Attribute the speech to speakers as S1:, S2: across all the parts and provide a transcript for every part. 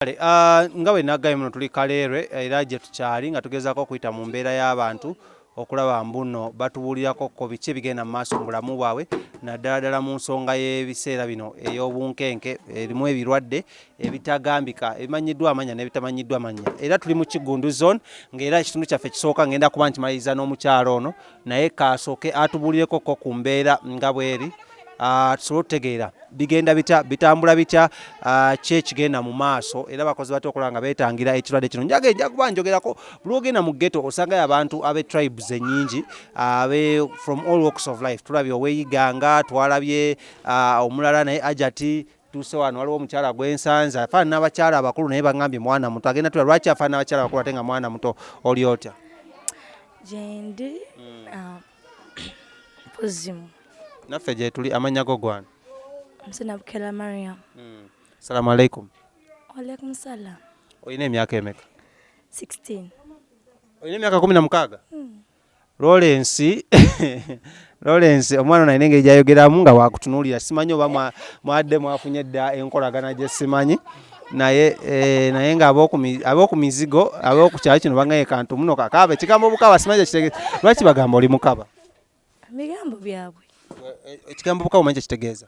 S1: Kale ah, nga bwe nagambye muno tuli Kaleerwe eh, era gye tukyali nga tugezaako okuyita mu mbeera y'abantu okulaba mbuno batubuulirako ko biki ebigenda mu maaso mu bulamu bwabwe naddala ddala mu nsonga y'ebiseera bino ey'obunkenke erimu ebirwadde ebitagambika ebimanyiddwa amanya n'ebitamanyiddwa manya era tuli mu Kiggundu zone ng'era ekitundu kyaffe kisooka ngenda kuba nkimaliriza n'omukyalo ono naye kasooke atubulireko ko ku mbeera nga bweri ah, tusobole okutegeera bigenda bitya bitambula bitya ah, ki ekigenda mu maaso era bakozi batya okulaba nga beetangira ekirwadde kino njage nja kuba njogerako buli ogenda mu ghetto osangayo abantu abe tribes ennyingi ah, abe from all walks of life tulabye oweyiganga twalabye ah, omulala naye ajati Tuuse wano waliwo omukyala gwe nsanze afaana n'abakyala abakulu naye bangambye mwana muto agenda tula lwaki afaana n'abakyala abakulu ate nga mwana muto oli otya
S2: gyendi hmm. ah, mpozimu naffe gyetuli
S1: amannya go gwana msinabukela
S2: mariam hmm. salamu
S1: aleikum walaikum
S2: salam olina emyaka
S1: emeka 16 olina emyaka kumi na mukaaga hmm. Lawrence Lawrence omwana nalina engeri gyayogeramu nga wakutunuulira simanyi oba mwadde mwafunye edda enkolagana gye simanyi naye eh, naye nga ab'oku mizigo ab'oku kyalo kino bangaye kantu muno kakaaba ekigambo obukaba simanyi kyekitegeeza lwaki bagamba oli mukaba bigambo
S2: byabwe eh, eh, ekigambo
S1: obukaba omanyi kyekitegeeza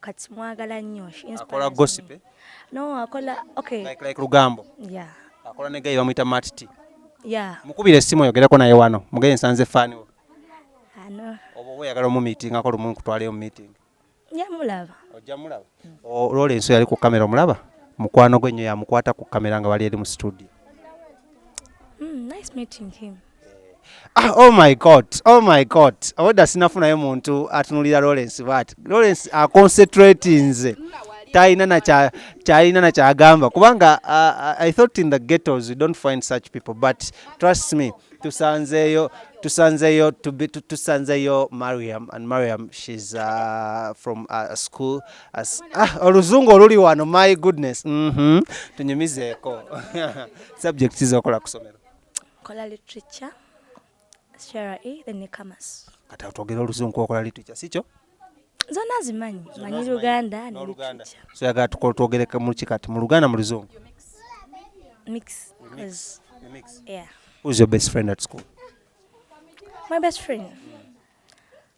S2: kati mwagala nnyo akola gossip
S1: eh? no akola
S2: okay like like lugambo
S1: yeah akola
S2: ne guy bamuyita
S1: mat t yeah mukubira
S2: essimu oyogereko
S1: naye wano mugeye nsanze fani wo ano
S2: oba oba oyagala omu
S1: meeting akola omu nkutwaleyo mu meeting ya mulaba
S2: ojja mulaba
S1: olwola ensi yali ku kamera omulaba mukwano gwe nnyo yamukwata ku kamera nga bali eri mu studio
S2: mm, nice meeting him Ah,
S1: oh my god oh my god obwedda sinafunayo muntu atunulira lawrence bat lawrence aconcentratinze talina nakyalina nakyagamba kubanga uh, i thought in the ghettos you don't find such people but trust me tusanzeyo tusanzeyo tusanzeyo mariam and mariam shes uh, from uh, school as, ah, oluzungu oluli wano my goodness mm -hmm. tunyumizeeko subject zizokola kusomero kola
S2: literature CRE then ne commerce kata twogera oluzungu
S1: okola literature sikyo zonna
S2: zimanyi manyi luganda ne literature so yagala
S1: tukola twogere mu ki kati mu luganda mu luzungu
S2: mix mix yeah who's your best
S1: friend at school
S2: my best friend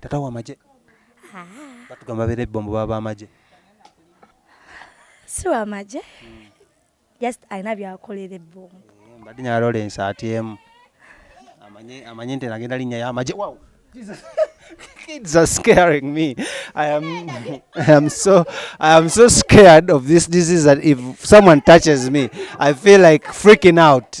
S2: tata
S1: wa maje batugamba bere bombo baba maje
S2: si wa maje just alina byakolere bombo eh, mbadi nya Lawrence
S1: atm amanye amanye nti nagenda linya ya maje wow jesus kids are scaring me. I am, I am so, I am so scared of this disease that if someone touches me, I feel like freaking out.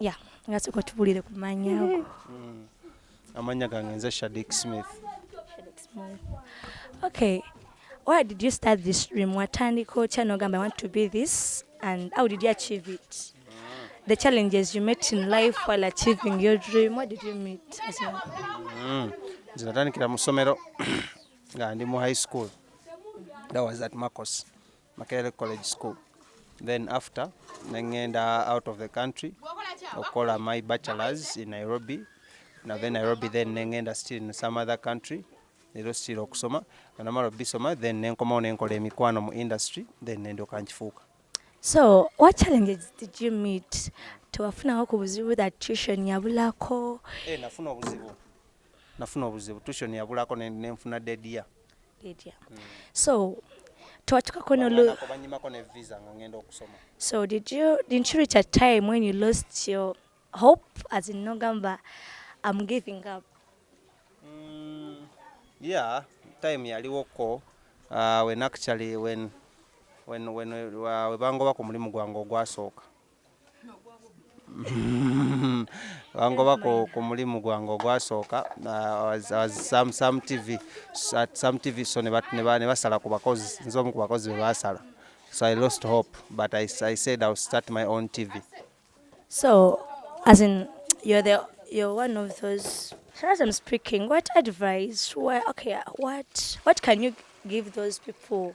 S2: ya nga soka tubulire ku manya ago mm.
S1: amanya gange nze shadik smith
S2: okay why did you start this dream watandika otya nogamba i want to be this and how did you achieve it the challenges you met in life while achieving your dream what did you meet as well? mm.
S1: nze natandikira mu ssomero nga ndi mu high school that was at marcos Makerere College School. Then after nengenda out of the country okola my bachelors in Nairobi nave Nairobi then nengenda still in some other country leero still okusoma anamala obisoma then nenkomawo nenkola emikwano mu industry then nendoka nkifuuka so
S2: what challenges did you meet tewafunawo ku buzibu that tuition yabulako eh, nafuna obuzibu
S1: nafuna obuzibu tuition yabulako ne- nenfuna dedia Lydia.
S2: So, twachukako no lo- Banako banyimako ne visa nga ngenda okusoma So did you didn't you reach a time when you lost your hope as in Nogamba? I'm giving up. Mm,
S1: yeah time yaliwoko uh, when actually when when when uh, webangoba ku mulimu gwange ogwasooka wangoba ku, ku mulimu gwange ogwasooka uh, sam, sam tv at sam tv so ne basala ku bakozi nze omu ku bakozi be basala so i lost hope but i, I said ill start my own tv so
S2: as in you're the you're one of those as i'm speaking what advice why okay what what can you give those people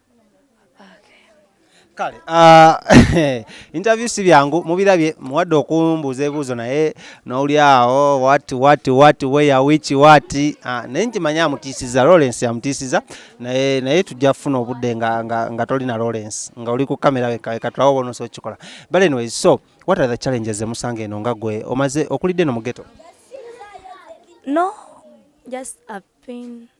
S1: kale ah, interview si byangu mubirabye muwadde okumbuuza ebibuuzo naye noli awo wat wat wat weya wiki wat ah, naye nkimanyi amutiisiza lawrence amutiisiza naye naye tujja kufuna obudde nga, nga, nga toli na lawrence nga oli ku kamera wekatulawo bonosa okikola but anyways so what are the challenges zemusanga eno nga gwe omaze okulidde no mugeto
S2: no just a pain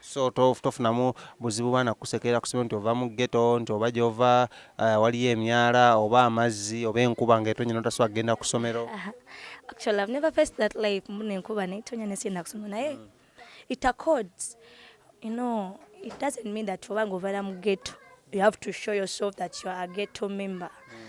S1: so tofunamu buzibu baana kukusekerera kusomero nti ova mu ghetto nti oba gyova eh, waliyo emyala oba amazzi oba enkuba nga etonya notasobola kugenda ku somero actually i've
S2: never faced that life mbona enkuba naye tonya nesiyenda kusomero naye mm. it accords you know it doesn't mean that oba nga ovaira mu ghetto you have to show yourself that you are a ghetto member mm.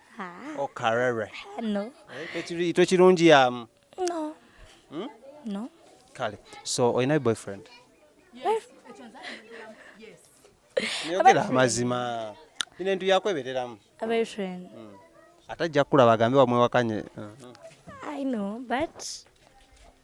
S1: okarere no
S2: eh, tekirungi yamu no hmm? no kale
S1: so olina boyfriend yogera amazima ine entu
S2: yakwebereramu boyfriend hmm. atajja
S1: kukulaba agambe wamwewakanye
S2: i know but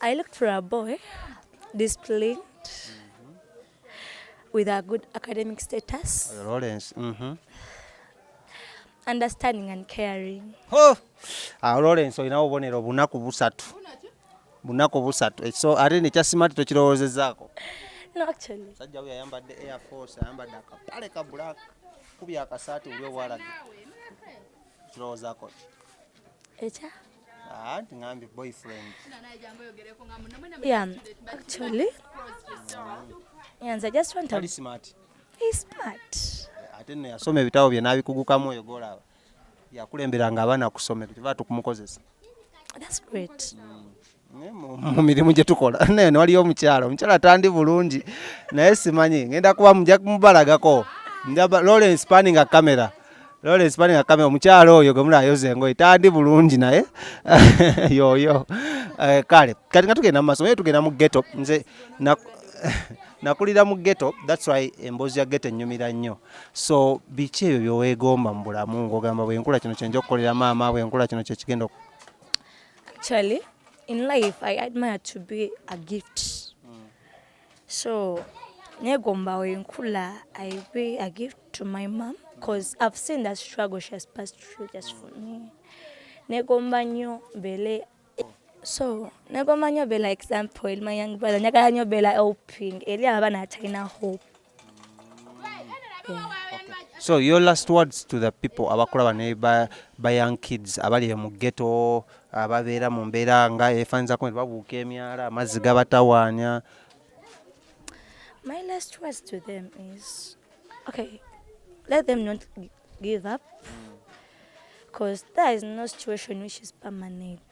S2: I looked for a boy disciplined with a good academic status. Lawrence. Mm -hmm. Understanding and caring. Oh!
S1: Ah, Lawrence olina obubonero bunaku busatu. Bunaku busatu. Eh, so ate ne kyasima tokirowoozezaako. No
S2: actually. Sajja we ayambadde
S1: Air Force, ayambadde akapale ka black. Kubya akasaati ulio walaga. Kirowoozaako.
S2: Echa. ate no yasoma
S1: ebitabo bye nabikugukamu oyo golaba yakulemberanga abaana kusomero kiva tukumukozesa
S2: mu
S1: mirimu gye tukola naye newaliyo omukyala omukyala tandi bulungi naye simanyi ngenda kuba muja kumubalagako lawrence paninga camera Lawrence bani akame omukyalo oyo gwe mulayoza engoye tandi bulungi naye yoyo eh, kale kati nga tugenda mu masomo ye tugenda mu ghetto nze nakulira mu ghetto that's why emboozi ya ghetto ennyumira nnyo so biki ebyo byoweegomba mu bulamu ng'ogamba bwenkula kino kyenja okukolera maama bwenkula kino kyekigenda
S2: Actually, in life, I admire to be a gift. so negomba wenkula i be a gift to my mom cause i've seen that struggle she has passed through just for me negomba nnyo mbeere so negomba nnyo beera example eri my young brother njagala nnyo beera helping eri abaana abatalina hope so your
S1: last words to the people abakulaba ne ba, ba young kids abali eyo mu ghetto ababeera mu mbeera nga efanizako nti babuuka emyala amazzi gabatawaanya
S2: my last words to them is okay let them not give up because there is no situation which is permanent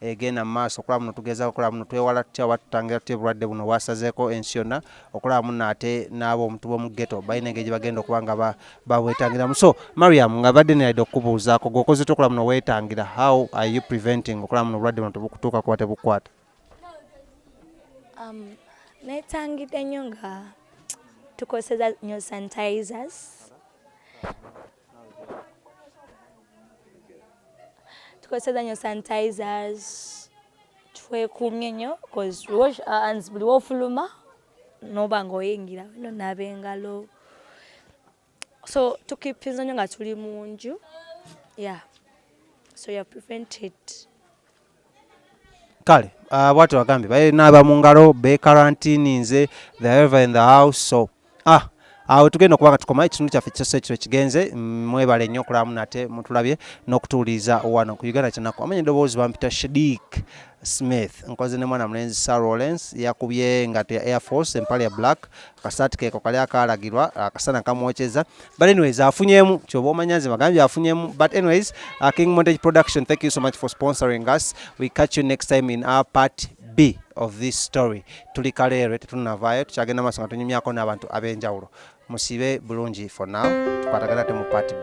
S1: egenda mu maaso okulaba muno tugezaako okulaba muno twewala tutya oba tutangira tutya obulwadde buno bwasazeeko ensi yonna okulaba muno ate n'abo omuntu b'omu geto balina engeri gye bagenda okuba nga babwetangiramu so mariam nga badde neyalidde okukubuuzaako gweokoze ty okulaba muno weetangira how are you preventing okulaba muno obulwadde buno tebukutuuka kuba tebukwata um,
S2: netangidde nnyo nga tukozesa nyo sanitizers tukozeseza nyo sanitizers twekumye nyo bcause wash our hands buli wofuluma noba nga oyingira no naba engalo so tukipinza nyo nga tuli munju yeah so you're prevented
S1: kale uh, bwati wagambye baye naaba mu ngalo be karantini nze the ever in the house so ah awo tugenda okuba nga tukoma ekitundu kyaffe kisoso ekiro kigenze mm, mwebale nnyo okulamu nate mutulabye n'okutuwuliriza wano ku uganda kyenaku amanya eddoboozi bampita shadik smith nkoze ne mwana mulenzi sir rollens yakubye engato ya air force empale ya black akasaati keeko kali akaalagirwa akasana kamwokyeza but anyways afunyemu kyoba omanya nze bagambye afunyemu but anyways uh, king montage production thank you so much for sponsoring us we catch you next time in our part b of this story tuli kaleerwe tetunavaayo tukyagenda maaso nga tunyumyako n'abantu ab'enjawulo musibe bulungi for now tukwatagana ate mu part b